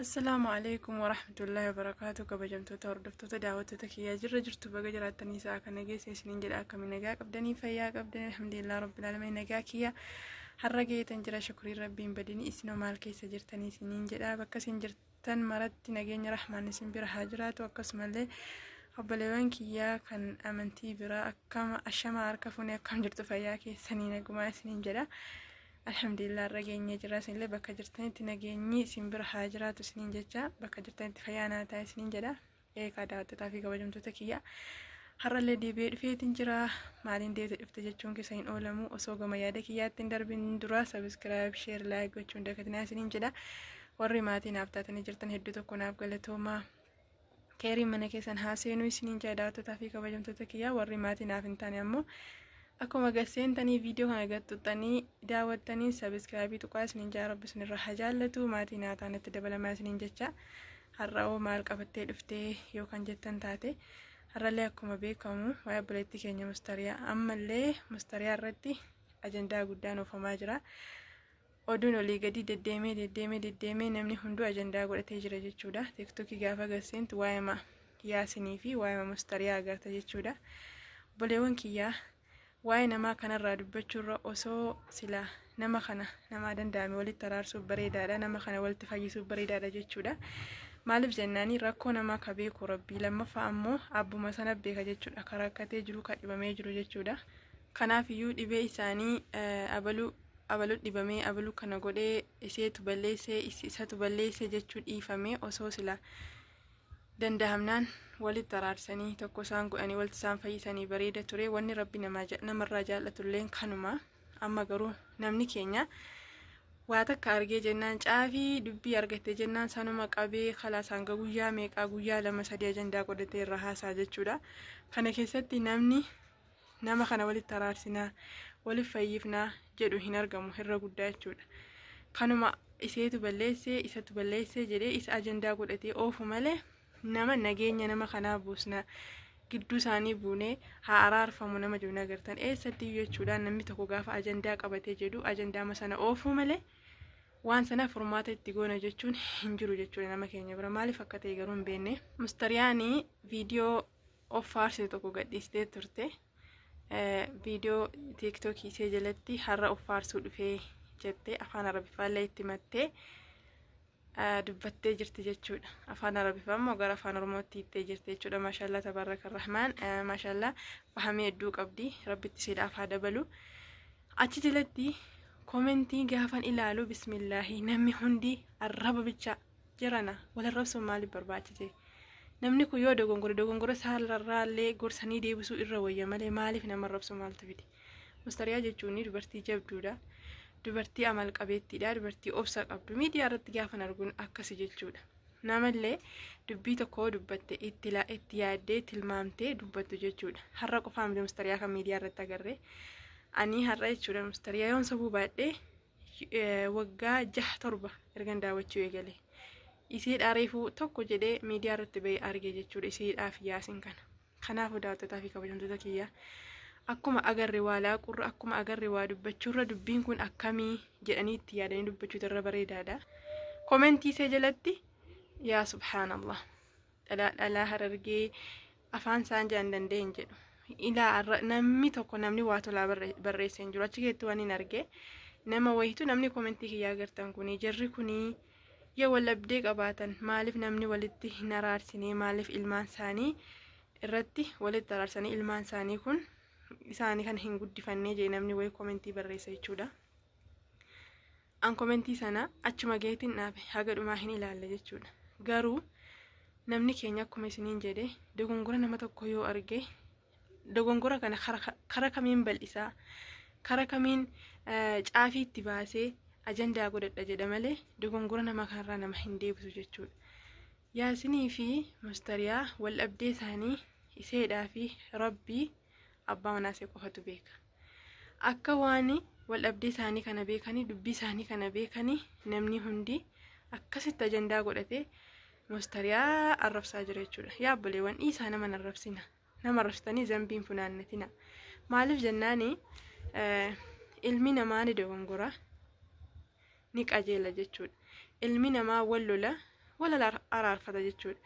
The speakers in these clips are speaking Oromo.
Assalaamu alaikum warahmatullahi wabarakaatu kabajamtoota hordoftoota daawwattoota kiyyaa jirra jirtu baga jiraattanii isaa akka nageessa isiniin jedha akkami nagaa qabdanii fayyaa qabdan alhamdulillah rabbil alamin nagaa kiyya har'a geetan jira shukrii rabbiin badini isinoo maal keessa jirtanii isiniin jedha bakka isin jirtan maratti nageenya rahmaan isin bira haa jiraatu akkasumallee obboleewwan kiyyaa kan amantii biraa akkama ashama harka fuunee akkam jirtu fayyaa keessanii nagumaa isiniin jedha Alhamdulillah irra geenyee jira isinillee bakka jirtanitti nageenyi isin bira haa jiraatu isiniin jecha bakka jirtanitti fayyaa naa ta'a isiniin jedha eegaa daawwattootaa fi kabajamtoota kiyya har'allee deebi'ee dhufeetiin jira maaliin deebite dhufte jechuun keessa hin oolamu osoo gama yaada kiyyaatti hin darbin dura sabiskiraayib sheer laayik gochuun dagatinaa isiniin jedha warri maatii naaf taatanii jirtan hedduu tokko naaf galatoomaa keerii mana keessan haa seenuu isiniin jaa daawwattotaa fi kabajamtoota kiyyaa warri maatii naaf hin taane ammoo akkuma gad seentanii viidiyoo kana gad tuqxanii daawwattanii sabiskiraabii tuqaa isiniin jaa rabbi isinirraa haa jaallatu maatii naa taanatti dabalamaa isiniin jecha har'aoo maal qabattee dhuftee yoo kan jettan taate har'allee akkuma beekamu waa'ee obboleettii keenya mustariyaa ammallee mustariyaa irratti ajandaa guddaan oofamaa jira. Oduun olii gadii deddeemee deddeemee deddeemee namni hunduu ajandaa godhatee jira jechuudha. Tiktokii gaafa gasseentu waa'ima yaasinii fi waa'ima mustariyaa agarta jechuudha. Boleewwan kiyyaa waa'ee namaa kanarraa dubbachuurra osoo silaa nama kana namaa danda'ame walitti araarsuuf bareedaadha nama kana walitti fayyisuuf bareedaadha jechuudha maaliif jennaanii rakkoo namaa ka beeku rabbii lammaffaa ammoo abbuma sana beeka jechuudha ka rakkatee jiru ka dhibamee jiru jechuudha kanaaf iyyuu dhibee isaanii abaluu abalu dhibamee abalu kana godhee iseetu balleessee isatu balleessee jechuu dhiifamee osoo sila dandahamnaan walitti araarsanii tokko isaan godhanii walitti isaan fayyisanii bareeda ture wanni rabbi namarraa jaallatulleen kanuma amma garuu namni keenya waa takka argee jennaan caafii dubbii argatte jennaan sanuma qabee kalaas hanga guyyaa meeqaa guyyaa lama sadii ajandaa godhatee irra haasaa jechuudha kana keessatti namni nama kana walitti araarsinaa waliif fayyifnaa jedhu hin argamu irra guddaa jechuudha kanuma iseetu balleessee isatu balleessee jedhee isa ajandaa godhatee oofu malee nama nageenya nama kanaa buusna gidduu isaanii buunee haa araarfamu nama jedhu nagartan eessatti jechuudhaan namni tokko gaafa ajandaa qabatee jedhu ajandaama sana oofuu malee waan sana furmaata itti goona jechuun hin jiru jechuudha nama keenya bira maaliif akka ta'e garuu hin beekne. Mustariyaanii viidiyoo of faarsitu tokko gadhiistee turte. Viidiyoo tiiktookii ishee jalatti har'a of faarsuu dhufee jettee afaan arabiffaallee itti mattee dubbattee jirti jechuudha. Afaan arabiffaa immoo gara afaan oromootti hiittee jirti jechuudha. Maashaallah tabaaraka rahmaan maashaallah fahamee hedduu qabdi rabbitti siidhaaf haa dabalu. Achi jalatti komentii gaafan ilaalu bismillaahi namni hundi arraba bicha jirana wal arrabsuun maaliif barbaachise namni kun yoo dogongore dogongora saallarraallee gorsanii deebisuu irra wayya malee maaliif nama arrabsuu maaltu fide mustariyaa jechuun dubartii jabduudha dubartii amal qabeettiidha dubartii obsa qabdu miidiyaa irratti gaafan arguun akkasi jechuudha namallee dubbii tokko dubbatte itti la- itti yaaddee tilmaamtee dubbattu jechuudha har'a qofaa miti mustariyaa kan miidiyaa irratti agarre ani har'a jechuudha mustariyaa yoon sobuu baadhee waggaa jaha torba ergan daawwachuu eegale isiidhaa reefuu tokko jedhee miidiyaa irratti ba'ee arge jechuudha isiidhaaf yaasin kana kanaafuu daawwattotaa fi kabajamtoota kiyya akkuma agarre waa laaqurra akkuma agarre waa dubbachuurra dubbiin kun akkamii jedhanii itti yaadanii dubbachuutu irra bareedaadha komentii see jalatti yaa subhaanallah dhalaa dhalaa harargee afaan isaan jaan danda'een jedhu. Ilaa arra- namni tokko namni waa tolaa barre- barreessee hin jiru achi keessatti waan hin arge nama wayitu namni komentii kiyyaa agartan kuni jarri kuni yoo wal dhabdee qabaatan maaliif namni walitti hin araarsine maaliif ilmaan isaanii irratti walitti araarsanii ilmaan isaanii kun isaanii kan hin guddifannee jee namni wayii komentii barreessa jechuudha. an komentii sana achuma gaheetiin dhaabe haga dhumaa hin ilaalle jechuudha garuu namni keenya akkuma isiniin jedhe dogongora nama tokko yoo arge dogongora kana kara- kara kamiin bal'isaa kara kamiin eh, caafii itti baasee ajandaa godhadha jedha malee dogongora nama kanarraa nama hin deebisu jechuudha yaasinii fi mustariyaa wal dhabdee isaanii iseedhaa fi rabbii abbaa manaasee qofatu beeka Akka waan wal dhabdee isaanii kana beekanii dubbii isaanii kana beekanii namni hundi akkasitti ajandaa godhatee mustariyaa arrabsaa jira jechuudha. Yaa obboleewwan dhiisaa nama arrabsina. Nama arrabsitanii zambiin funaannatina. Maaliif jennaani ilmi namaa ni dogongora. ni qajeela jechuudha. Ilmi namaa wal lola wal araarfata jechuudha.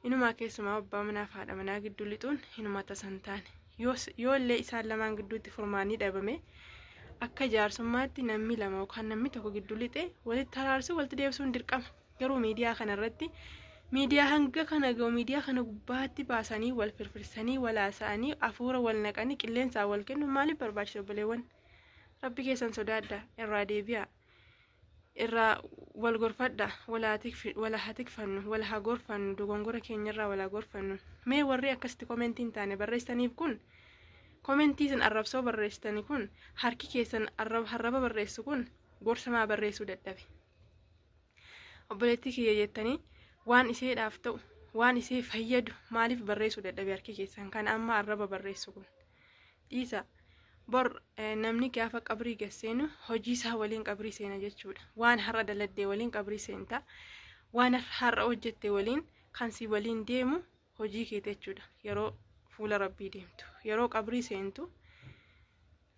Inumaa keessumaa abbaa manaa fi haadha manaa gidduu lixuun hinuma tasa hin taane. Yoo illee isaan lamaan gidduutti furmaanni dhabame akka jaarsummaatti namni lama yookaan namni tokko gidduu lixee walitti araarsuu walitti deebisuun dirqama. Garuu miidiyaa kanarratti miidiyaa hanga kana ga'u miidiyaa kana gubbaatti baasanii wal firfirsanii wal haasa'anii hafuura wal naqanii qilleensaan wal kennu maaliif barbaachisa obboleewwan? rabbi keessan sodaadha irraa deebi'a irraa wal gorfadha wal haa tikfi- wal haa tikfannu wal haa gorfannu dogongora keenyarraa wal haa gorfannu mee warri akkasitti komentii hin taane barreessaniif kun komentii isin arrabsoo barreessitani kun harki keessan arrab- harraba barreessu kun gorsa maa barreessuu dadhabe obboleettii kiyya jettanii waan isheedhaaf ta'u waan ishee fayyadu maaliif barreessuu dadhabe harki keessan kan amma arraba barreessu kun dhiisa bor eh, namni gaafa qabrii gad seenu hojii isaa waliin qabrii seena jechuudha waan har'a daladdee waliin qabrii seenta waan har'a hojjette waliin kan si waliin deemu hojii keeti jechuudha yeroo fuula rabbii deemtu yeroo qabrii seentu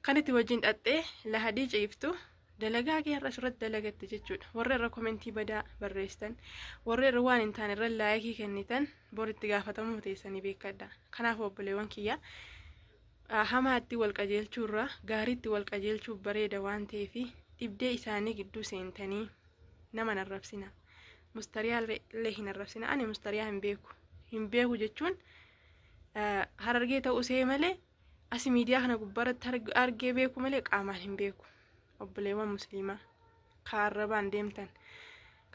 kan itti wajjin dhaxxee lahadii ciiftu dalagaa kee har'a asirratti dalagatte jechuudha warra irra komentii badaa barreessitan warra irra waan hin taane irra laayikii kennitan bor itti gaafatamuu teessanii beekadha kanaaf obboleewwan kiyya hamaatti wal qajeelchuu irra gaariitti wal qajeelchuu bareeda waan ta'eef dhibdee isaanii gidduu seentanii nama narrabsina mustariyaa illee hin arrabsina ani mustariyaa hin beeku hin beeku jechuun harargee ta'uu see malee asi miidiyaa kana gubbaarratti argee beeku malee qaamaan hin beeku obboleewwan musliimaa ka arrabaan deemtan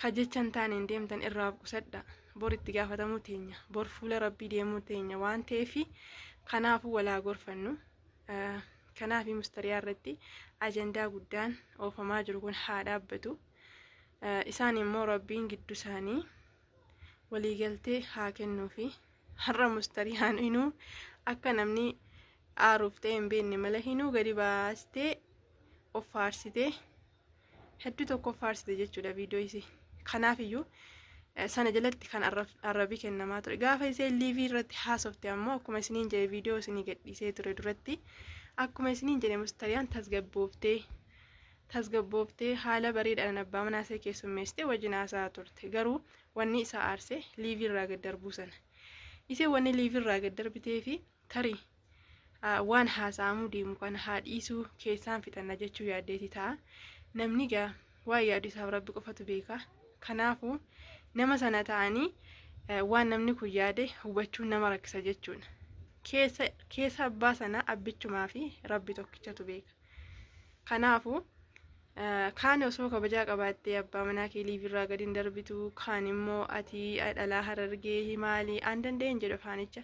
ka jechan taaneen deemtan irraa of qusadha bor itti gaafatamuu teenya bor fuula rabbii deemuu teenya waan ta'eefi kanaafuu walaa gorfannu kanaafi mustariyaa irratti ajandaa guddaan oofamaa jiru kun haa dhaabbatu. Isaan immoo rabbiin gidduu isaanii waliigaltee haa kennuufi har'a mustariyaan inuu akka namni aaruuf ta'e hin beekne mala hinuu gadi baastee of faarsitee hedduu tokko of faarsite jechuudha viidiyoo isii kanaaf iyyuu sana jalatti kan arrabii kennamaa ture gaafa isee liivii irratti haasofte ammoo akkuma isiniin jedhe viidiyoo isinii gadhiisee ture duratti akkuma isiniin jedhe mustariyaan tasgabbooftee tasgabbooftee haala bareedaadhaan abbaa manaa ishee keessummeessitee wajjin haasa'aa turte. Garuu wanni isa aarse liivii irraa gad darbuu sana. Isheen wanni liivii irraa gad darbitee fi tarii ah, waan haasa'amuu deemu kana haa dhiisuu keessaan fixanna jechuu yaaddeeti ta'a. Namni gaa waan yaadu isaaf rabbi qofatu beeka. Kanaafuu nama sana ta'anii eh, waan namni kun yaade hubachuun nama rakkisa jechuudha. Keessa keessa abbaa sanaa abbichumaa fi rabbi tokkichatu beeka. Kanaafu kaan osoo kabajaa qabaattee abbaa manaa kee liivirraa gadi hin darbitu kaan immoo ati dhalaa harargee himaali aan danda'een jedhu afaanicha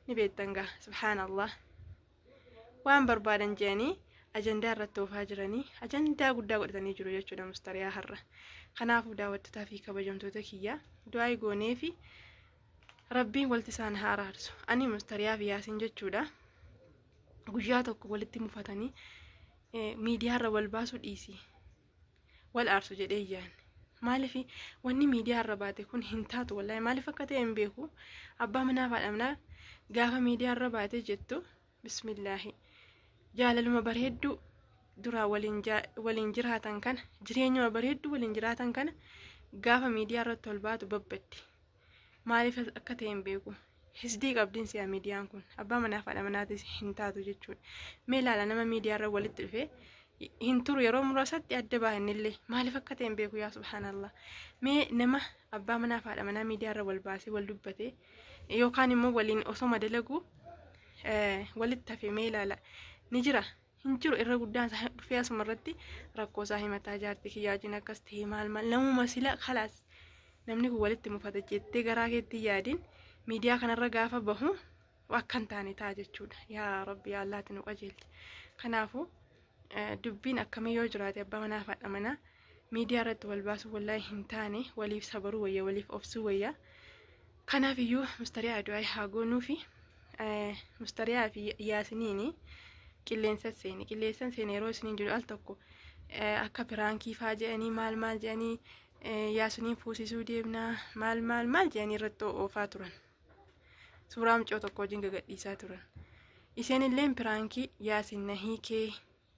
ni beektan gaa subhaanallah waan barbaadan jedhanii ajandaa irratti oofaa jiranii ajandaa guddaa godhatanii jiru jechuudha mustariyaa har'a kanaafuu daawwattotaa fi kabajamtoota kiyyaa du'aa goonee fi rabbiin walti isaan haa araarsu ani mustariyaa fi yaasiin jechuudha. guyyaa tokko walitti mufatanii miidiyaarra wal baasuu dhiisi wal aarsu jedhee yaadne maaliif wanni miidiyaarra baate kun hin taatu wallahi maaliif akka ta'e hin beeku abbaa manaa faadhamnaa gaafa miidiyaarra baate jettu bismillaahi jaalaluma bareedduu duraa waliin jiraatan kana jireenyuma bareedduu waliin jiraatan kana gaafa miidiyaarratti wal baatu babbaddi Maaliif akka ta'e hin beeku. Hisdii qabdiin si'a miidiyaan kun abbaa manaa fi haadha manaatis hin taatu jechuudha. Mee ilaala nama miidiyaarra walitti dhufee hin turu yeroo muraasatti adda baahannillee maaliif akka ta'e hin beeku yaa subhaanallah. Mee nama abbaa manaa fi haadha manaa miidiyaarra wal baasee wal dubbatee yookaan immoo waliin osoo madalagu walitti hafe mee ilaala ni jira hin jiru irra guddaan isaa dhufee asuma irratti rakkoo isaa himataa jaartii kiyyaajiin akkas ta'e maal maal namuma sila kalaas namni kun walitti mufata jettee garaa keetti yaadin miidiyaa kanarra gaafa bahu akka hin taane ta'a jechuudha yaa rabbi yaa allaatti nu qajeelchi kanaafuu eh, dubbiin akkamii yoo jiraate abbaa manaa fi haadha manaa miidiyaa irratti wal baasuu wallahi hin taane waliif sabaruu wayya waliif obsuu wayya kanaaf iyyuu mustariyaa du'aa haa goonuu fi mustariyaa fi yaasiniini qilleensa seene qilleensan seene yeroo isiniin jedhu al tokko akka piraankii faa jedhanii maal maal jedhanii yaasiniin fuusisuu deemnaa maal maal maal jedhanii irratti oofaa turan suuraa mucoo tokko wajjin gagadhiisaa turan isheen illeen piraankii yaasin na hiikee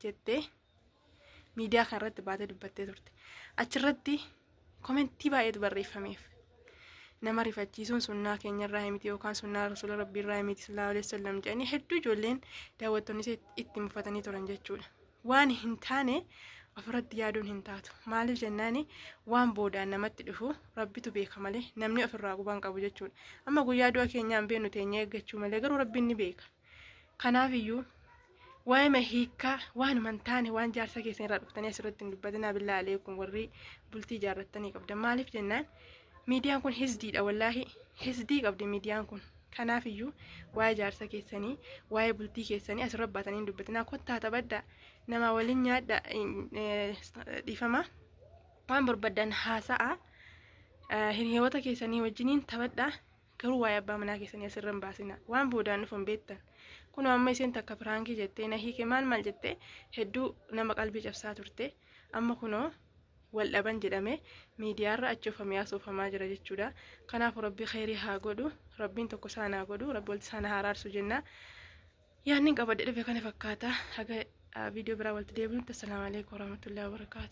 jettee miidiyaa kana irratti baatee dubbattee turte. Achirratti komentii baay'eetu barreeffameef. Nama rifachiisuun sunnaa keenya irraa himiti yookaan sunnaa rasuula rabbii irraa himiti sallallahu alaihi wasallam jedhanii hedduu ijoolleen daawwattoonni ishee itti mufatanii turan jechuudha. Waan hin taane ofirratti yaaduun hin taatu. Maaliif jennaani waan boodaan namatti dhufu rabbitu beeka malee namni ofirraa qubaan qabu jechuudha. Amma guyyaa du'a keenyaan beenu teenya eeggachuu malee garuu rabbiin ni beeka. Kanaafiyyuu waa'ima hiikkaa waanuma hin taane waan jaarsa keessan irraa dhuftanii asirratti hin dubbatinaa billaa aleekum warri bultii ijaarrattanii qabdan maaliif jennaan miidiyaan kun hisdiidha wallaahi hisdii qabdi miidiyaan kun kanaafiyyuu waa'ee jaarsa keessanii waa'ee bultii keessanii asirra baatanii hin dubbatinaa kottaa taphadha namaa waliin nyaadha dhiifama waan barbaadan haasa'a hiriyoota keessanii wajjiniin taphadha Garuu waa'ee abbaa manaa keessanii asirra hin baasinaa. Waan boodaan dhufu hin beektan. Kunoo amma isheen takka piraankii jettee na hiike maal maal jettee hedduu nama qalbii cabsaa turte. Amma kunoo wal dhaban jedhame miidiyaarra achoofamee asoofamaa jira jechuudha. Kanaafuu rabbi kheyrii haa godhu. Rabbiin tokko isaan haa godhu. Rabbi walitti isaan haa araarsu jenna. Yaanni qabadhe dhufe kana fakkaata. Haga viidiyoo biraa walitti deebinutti. Assalaamu alaikum warahmatullahi wabarakaatu.